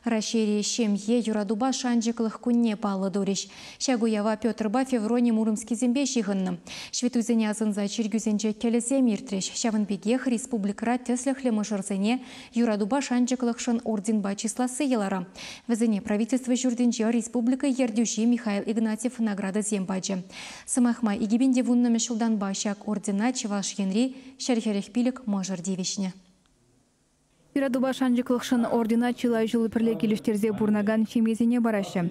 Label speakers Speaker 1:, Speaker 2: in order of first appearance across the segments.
Speaker 1: Раҫҫейри Ҫемье, юратупа шанчӑклӑх кунне паллӑ турӗҫ. Ҫак уява Петрпа Феврони Муромскисемпе ҫыхӑннӑ ҫветтуйсене асӑнса чиркӳсенче кӗлӗсем иртрӗҫ, ҫавӑн пекех республикӑра тӗслӗхлӗ мӑшӑрсене Юратупа шанчӑклӑхшӑн орденпа чысласси йӑлара. Вӗсене Правительство ҫуртӗнче республика ертӳҫи Михаил Игнатьев наградӑсем пачӗ. Сӑмах май, икӗпин те вуннӑмӗш ҫултанпа ҫак ордена Чӑваш Енри ҫӗр-хӗрӗх пилӗк мӑшӑр тивӗҫнӗ.
Speaker 2: Юратупа шанчӑклӑхшӑн ордена чылай ҫул пӗрле килӗштерсе пурӑнакан ҫемьесене параҫҫӗ.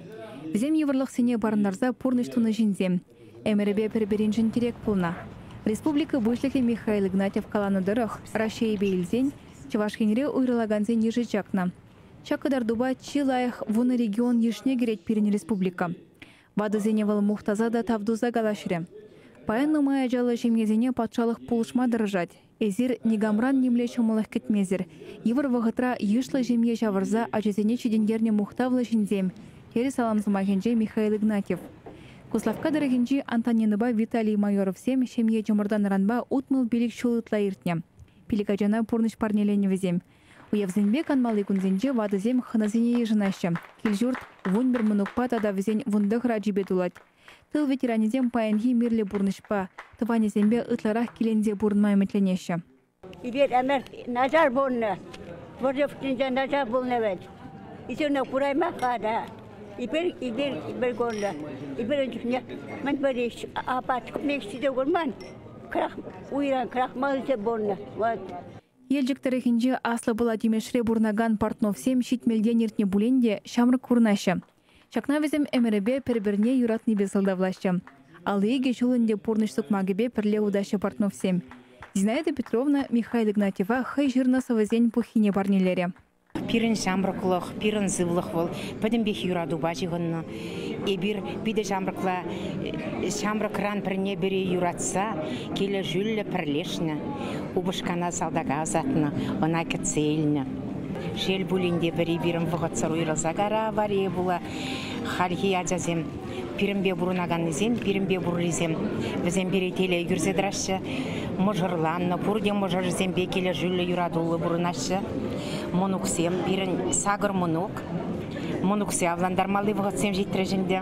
Speaker 2: Вӗсем йывӑрлӑхсене парӑнтарса пурнӑҫ тунӑ ҫынсем. Ӗмӗрӗпе пӗр-пӗриншӗн тирек пулнӑ. Республика Пуҫлӑхӗ Михаил Игнатьев каланӑ тӑрӑх, Раҫҫейӗпе илсен Чӑваш Енре уйрӑлакансен йышӗ чакнӑ. Ҫак кӑтартупа чи лайӑх вунӑ регион йышне кӗрет пирӗн республика. Ватӑсене вӑл мухтаса та тав туса калаҫрӗ. Паян нумай ачаллӑ ҫемьесене патшалӑх пулӑшма тӑрӑшать, Эсир никамран нимле ҫӑмӑллӑх кӗтмесӗр, йывӑр вӑхӑтра йышлӑ ҫемье ҫавӑрса ачасене ҫитӗнтернӗ мухтавлӑ ҫынсем, терӗ салам сӑмахӗнче Михаил Игнатьев. Куславкка тӑрӑхӗнчи Антонинӑпа Виталий Майоровсем ҫемье чӑмӑртанӑранпа утмӑл пилӗк ҫул ытла иртнӗ. Пилӗк ачана пурнӑҫ парнеленӗвӗсем, уявсемпе канмалли кунсенче ватӑсем хӑнасене йышӑнаҫҫӗ. Кил-ҫурт, вун пӗр мӑнукпа тата вӗсен вун тӑхӑр ачипе тулать. Тыл ветеранӗсем паянхи мирлӗ пурнӑҫпа, тӑванӗсемпе ытларах киленсе пурӑнма ӗмӗтленеҫҫӗ. Эпир ӗмӗр
Speaker 3: начар пулнӑ. Вӑрҫӑ пуҫӗнче начар пулнӑ вӗт. Ӳсӗрне кураймаҫ-ха та. Эпир, эпир, эпир курнӑ. Эпир ун чухне мӗнпӗр ӗҫ, апат мекши те курман. Крах, уйран крахмалҫӑ пулнӑ. Вот. Елчӗк
Speaker 2: тӑрӑхӗнче Аслӑ Пӑла Тимешре пурӑнакан Портновсем ҫитмӗлтен иртнӗ пулин те ҫамрӑк курӑнаҫҫӗ. Ҫакна вӗсем ӗмӗрӗпе пӗр-пӗрне юратнипе сӑлтавлаҫҫӗ. Алли икӗ ҫул ӗнтӗ пурнӑҫ сукмакӗпе пӗрле утаҫҫӗ Портновсем. Зинаида Петровна Михаил Игнатьева хӑй ҫырнӑ сӑвӑсен пуххине парнелерӗ. Пирӗн
Speaker 4: ҫамрӑклӑх, пирӗн сывлӑх вӑл пӗтӗмпех юратупа ҫыхӑннӑ. Эпир питӗ ҫамрӑкла, ҫамрӑкран пӗрне-пӗри юратса, килӗшӳллӗ пӗрлешнӗ. Упӑшкана салтака ӑсатнӑ, ӑна кӗтсе илнӗ. Шел пулин те, пӗри пирӗн вӑхӑтсӑр уйрӑлса кайрӗ аварие пула. Хальхи ачасем пирӗнпе пурӑнаканнисем, пирӗнпе пуррисем, вӗсем пире телей кӳрсе тӑраҫҫӗ. Мӑшӑрланнӑ, пурте мӑшӑрӗсемпе килӗшӳллӗ, юратуллӑ пурӑнаҫҫӗ. Мӑнуксем, пирӗн сакӑр мӑнук. Мӑнуксе авлантармалли вӑхӑтсем ҫитрӗҫ ӗнтӗ.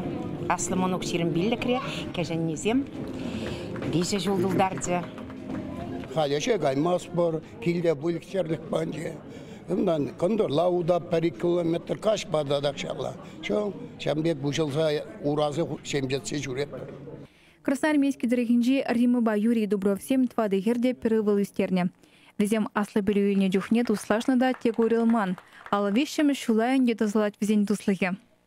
Speaker 4: Аслӑ мӑнук ҫирӗм пиллӗкре, кӗҫӗннисем виҫӗ ҫул тултарчӗ. Халӗ
Speaker 5: ӗҫе каймастпӑр. килте выльӑх-чӗрлӗх панчӗ. Унтан кӑнтӑрла уда пӗр-ик километр каҫпа та тахҫанла. Чӑ, ҫавӑн пек выҫӑлса урасӑр ҫемҫетсе ҫӳретпӗр. Красноармейски
Speaker 2: тӑрӑхӗнчи Римӑпа Юрий Дубровсем тӑватӑ хӗр те пӗр ывӑл ӳстернӗ. Вӗсем аслӑ пӗлӳ илнӗ чухне туслашнӑ та тек уйрӑлман. Ал виҫҫӗмӗш ҫула ӗнтӗ тӑсӑлать вӗсен туслӑхӗ.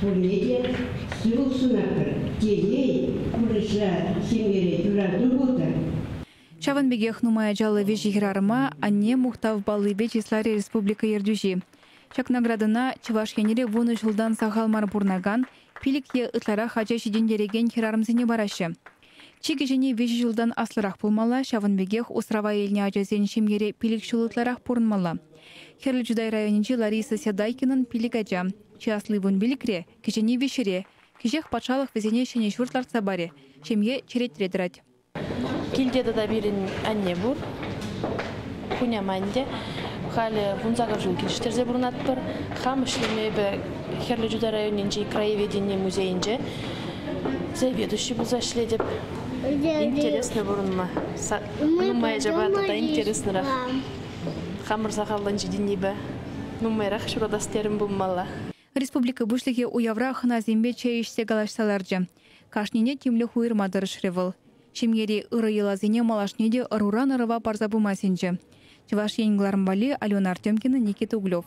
Speaker 6: Пурне те сывӑ сунатпӑр. Телей, пурнӑҫра, ҫемьере юрату пултӑр. Ҫавӑн
Speaker 2: пекех нумай ачаллӑ виҫӗ хӗрарӑма Анне мухтав паллипе чысларӗ республика ертӳҫи. Ҫак наградӑна Чӑваш Енре вунӑ ҫултан сахал мар пурӑнакан, пилӗк е ытларах ача ҫитӗнтерекен хӗрарӑмсене параҫҫӗ. Чи кӗҫӗнни виҫӗ ҫултан аслӑрах пулмалла, ҫавӑн пекех усрава илнӗ ачасен ҫемьере пилӗк ҫул ытларах пурӑнмалла. Хӗрлӗ Чутай районӗнчи Лариса Сядайкинӑн пилӗк ача. Чи асли вун пилӗкре, кӗҫӗнни виҫҫӗре. Кӗҫех патшалӑх вӗсене ҫӗнӗ ҫурт лартса парӗ. Ҫемье черетре тӑрать. Килте
Speaker 7: тата пирӗн анне пур. Хуняма ӗнтӗ. Халӗ вунсакӑр ҫул килӗштерсе пурӑнатпӑр. Хам ӗҫлеме эпӗ Хӗрлӗ Чутай районӗнчи краеведени музейӗнче заведующий пулса ӗҫлетӗп. Интересно пурӑнма. Нумай ачапа тата интереснех. Хамӑр сахаллӑн ҫитӗннипе нумайрах ҫуратас терӗм пулмалла. Республика
Speaker 2: Пуҫлӑхӗ уявра хӑнасемпе чей ӗҫсе калаҫса ларчӗ. Кашнине тимлӗх уйӑрма тӑрӑшрӗ вӑл. Ҫемьери ырӑ йӑласене малашне те ӑруран ӑрӑва парса пыма сӗнчӗ. Чӑваш Ен кӑларӑм валли Алена Артемкина, Никита Углев.